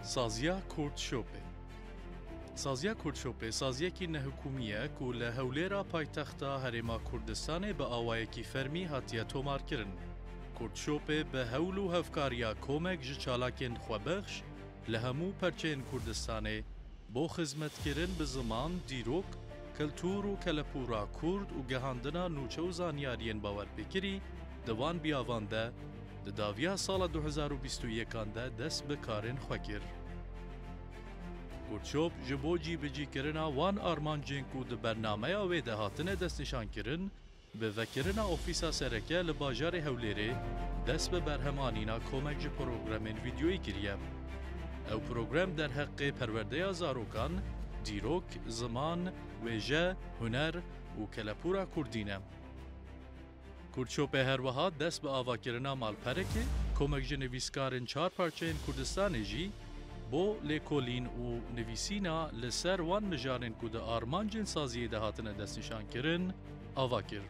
Saziya Kurt Şopê Saziya Kurt Şopê saziyekî nehikûmî ye ku li Hewlêra paytexta Herêma Kurdistanê bi awayekî fermî hatiye tomarkirin. Kurt Şopê bi hewl û hevkariya komek ji çalakên xwebexş, li hemû perçeyên Kurdistanê bo xizmetkirin bi ziman, dîrok, kultur û kelepûra Kurd û gehandina nûçe û zanyariyên bawerpêkirî di van biyavan de di daviya sala du hezar û bîst û yekan de dest bi karên xwe kir. Workshop ji bo cîbicîkirina wan armancên ku di bernameya wê de hatine destnîşankirin, Bi vekirina ofîsa sereke li bajarê Hewlêrê dest bi berhemanîna komek ji programên vîdyoyî kiriye. Ew program derheqê perwerdeya zarokan, dîrok, ziman, wêje, huner û kelepûra kurdî ne. Kurdshopê her wiha dest bi avakirina malperekê komek ji nivîskarên çar parçeyên Kurdistanê jî bo lêkolîn û nivîsîna li ser wan mijarên ku di armancên saziyê de hatine destnîşankirin, ava kir.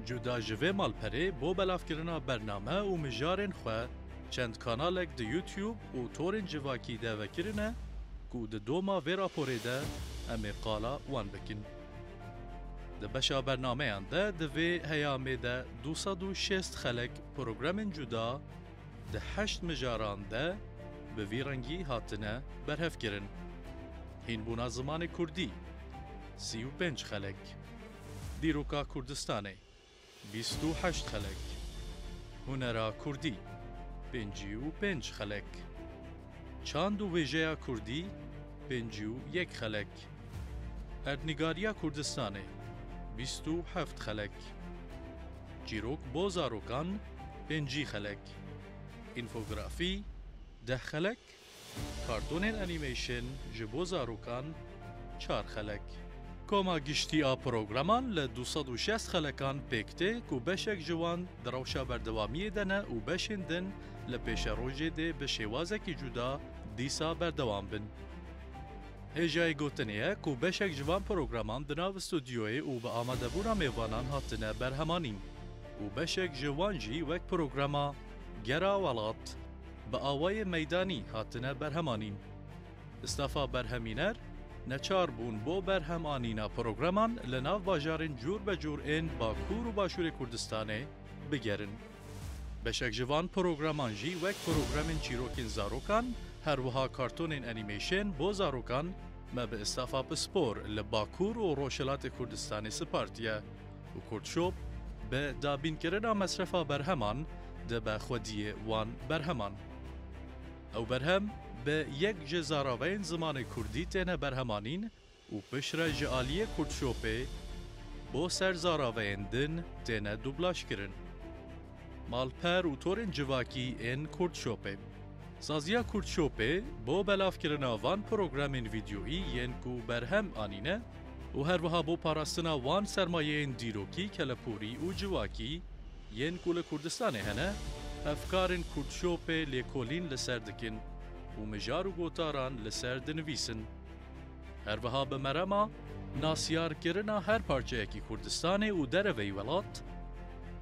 Cuda ji vê malperê bo belavkirina bername û mijarên xwe çend kanalek di YouTube û torên civakî de vekirine ku di doma vê raporê de em ê qala wan bikin. Di beşa bernameyan de divê heyamê de du sed û şêst xelek programên cuda, di heşt mijaran de bi vî rengî hatine berhevkirin, Hînbûna zimanê kurdî, sî û pênc xelek, Dîroka Kurdistanê, bîst û heşt xelek, Hunera kurdî, pêncî û pênc xelek, Çand û wêjeya kurdî, pêncî û yek xelek, Erdnîgariya Kurdistanê, bîst û heft xelek. Çîrok bo zarokan, pêncî xelek. Înfografî, deh xelek. Kartonên anîmeyşên ji bo zarokan, çar xelek. Koma giştî a programan li du sed û şezt xelekan pêk tê ku beşek ji wan di rewşa berdewamiyê de ne û beşên din li pêşerojê dê bi şêwazekî cuda dîsa berdewam bin. Hêjayê gotinê ye ku beşek ji van programan di nav studyoyê û bi amadebûna mêvanan hatine berhemanîn û beşek ji wan jî wek programa Gera Welat bi awayê meydanî hatine berhemanîn. Stafa berhemîner neçar bûn bo berhem anîna programan li nav bajarên cûr be cûr ên Bakur û Başûrê Kurdistanê bigerin. Beşek ji van programan jî wek programên çîrokên zarokan, her wiha kartonên enîmeşên bo zarokan me bi îstafa pispor li Bakur û Rojhilatê Kurdistanê sipartiye û Kurdshop bi dabînkirina mesrefa berheman dibe xwediyê wan berheman. Ew berhem bi yek ji zaraveyên zimanê Kurdî têne berhemanîn, û piştre ji aliyê Kurdshopê bo ser zaraveyên din têne dublajkirin. Malper û torên civakî ên Kurdshopê. Saziya Kurdshopê bo belavkirina van programên vîdyoyî yên ku berhem anîne û her wiha bo parastina wan sermayeyên dîrokî, keleporî û civakî yên ku li Kurdistanê hene, hevkarên Kurdshopê lêkolîn li ser dikin û mijar û gotaran li ser dinivîsin. Her wiha bi merema nasyarkirina her parçeyekî Kurdistanê û dereveyî welat,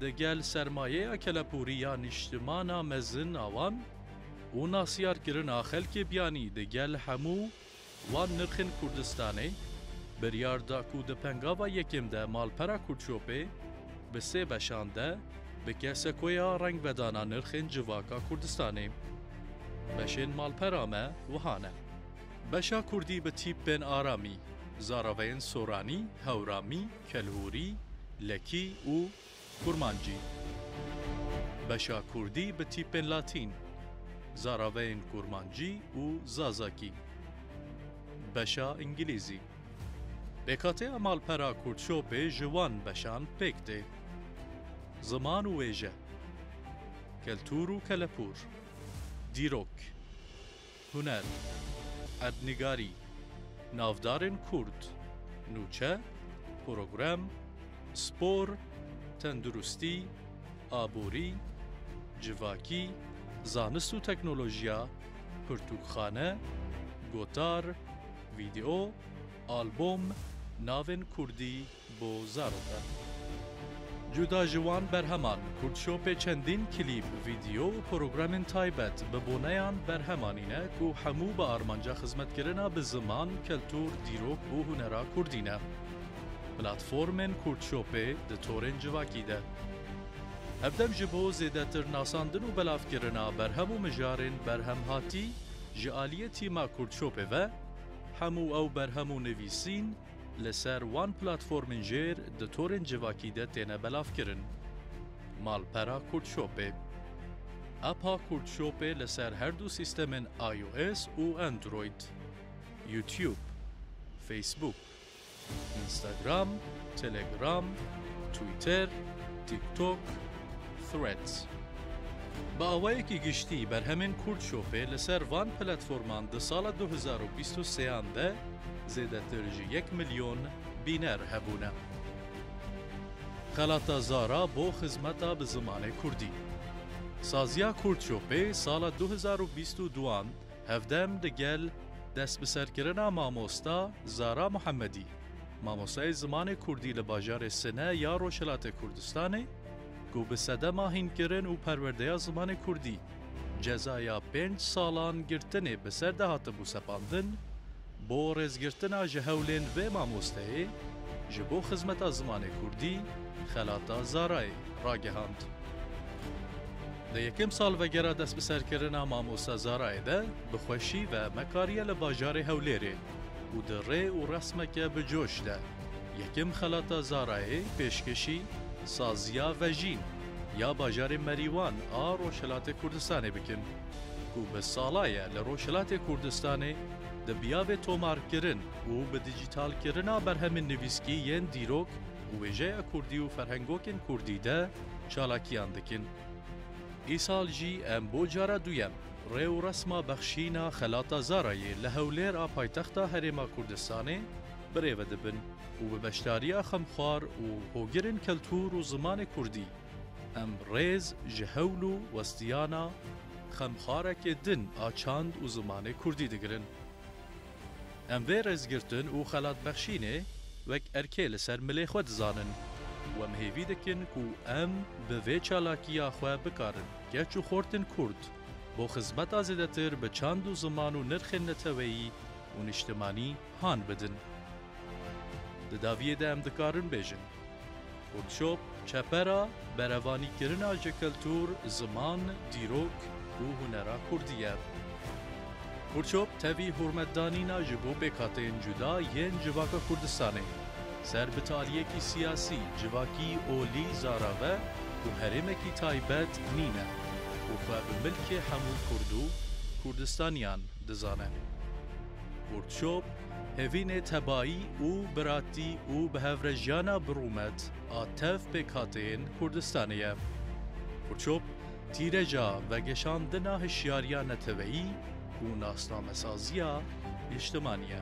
di gel sermayeya kelepûrî ya nîştimana mezin a wan û nasyarkirina xelkê biyanî di gel hemû wan nirxên Kurdistanê, biryar da ku di pengava yekêm de malpera Kurdshopê bi sê beşan de bike sekoya rengvedana nirxên civaka Kurdistanê. Beşên malpera me wiha ne. Beşa kurdî bi tîpên aramî, zaraveyên soranî, hewramî, kelhûrî, lekî û kurmancî. Beşa kurdî bi tîpên latîn, zaraveyên kurmancî û zazakî. Beşa îngilîzî. Pêkhateya malpera Kurdshopê ji wan beşan pêk tê. Ziman û wêje. Keltûr û kelepûr. Dîrok. Huner, erdnigarî, navdarên kurd, nûçe, program, spor, tenduristî, aborî, civakî, zanist û teknolojiya, pirtûkxane, gotar, vîdeo, albom, navên kurdî, Bo zarok e. Cuda ji wan berheman, Kurdshopê çendîn klîp, vîdeo û programên taybet bi boneyan berhem anîne ku hemû bi armanca xizmetkirina bi ziman, keltûr, dîrok û hunera kurdî ne. Platformên Kurdshopê di torên civakî de hevdem ji bo zêdetir nasandin û belavkirina berhem û mijarên berhemhatî ji aliyê tîma Kurdshopê ve hemû ew berhem û nivîsîn, li ser wan platformên jêr di torên civakî de têne belavkirin. Malpera Kurdshopê. Appa Kurdshopê li ser her du sîstemên IOS û Android. YouTube. Facebook. Instagram. Telegram. Twitter. TikTok. Threads. Bi awayekî giştî berhemên Kurdshopê li ser van platforman di sala du hezar û bîst û sê an de zêdetir ji yek milyon bîner hebûne. Xelata Zara bo xizmeta bi zimanê Kurdî. Saziya Kurdshopê sala du hezar û bîst û du an hevdem di gel destbiserkirina mamosta Zara Muhemedî, mamostayê zimanê Kurdî li bajarê Sine ya Rojhilatê Kurdistanê, ku bi sedema hînkirin û perwerdeya zimanê kurdî cezaya pênc salan girtinê bi ser de hatibû sepandin, bo rêzgirtina ji hewlên vê mamosteyê ji bo xizmeta zimanê kurdî xelata Zarayê ragihand. Di yekem salvegera destbiserkirina mamoste Zarayê de bi xweşî ve me kariye li bajarê Hewlêrê û di rê û resmeke bi coş de, Yekem xelata Zarayê pêşkêşî saziya Vejîn ya bajarê Merîwan a Rojhilatê Kurdistanê bikin ku bi sala ye li Rojhilatê Kurdistanê dibiyabe tomarkirin û bi dîjîtalkirina berhemên nivîskî yên dîrok û wêjeya kurdî û ferhengokên kurdî de çalakiyan dikin. Îsal jî em bo cara duyem rê û resma bexşîna xelata Zarayê li Hewlêr a paytexta Herêma Kurdistanê birêve dibin û bi beşdariya xemxwar û hogirên keltûr û zimanê kurdî em rêz ji hewl û westiyana xemxwarekê din a çand û zimanê kurdî digirin. Em vê rêzgirtin û xelatbexşînê wek erkê li ser milê xwe dizanin û em hêvî dikin ku em bi vê çalakiya xwe bikarin keç û xortên kurd bo xizmeta zêdetir bi çand û ziman û nirxên neteweyî û niştimanî Han bidin. Di daviyê de em dikarin bêjin, Workshop çepera berevanîkirina ji kultur, ziman, dîrok û hunera kurdî ye. Workshop tevî hurmetdanîna ji bo pêkhateyên cuda yên civaka Kurdistanê ser bi taliyekî siyasî, civakî, olî, zarave û herêmekî taybet nîne û xwe bi milkê hemû kurd û Kurdistaniyan dizane. Workshop, Hevînê tebayî û biratî û bihevrejiyana bi rûmet a tev pêkhateyên Kurdistanê ye. Workshop, Tîreja vegeşandina hişyariya neteweyî û nasnamesaziya nîştimanî ye.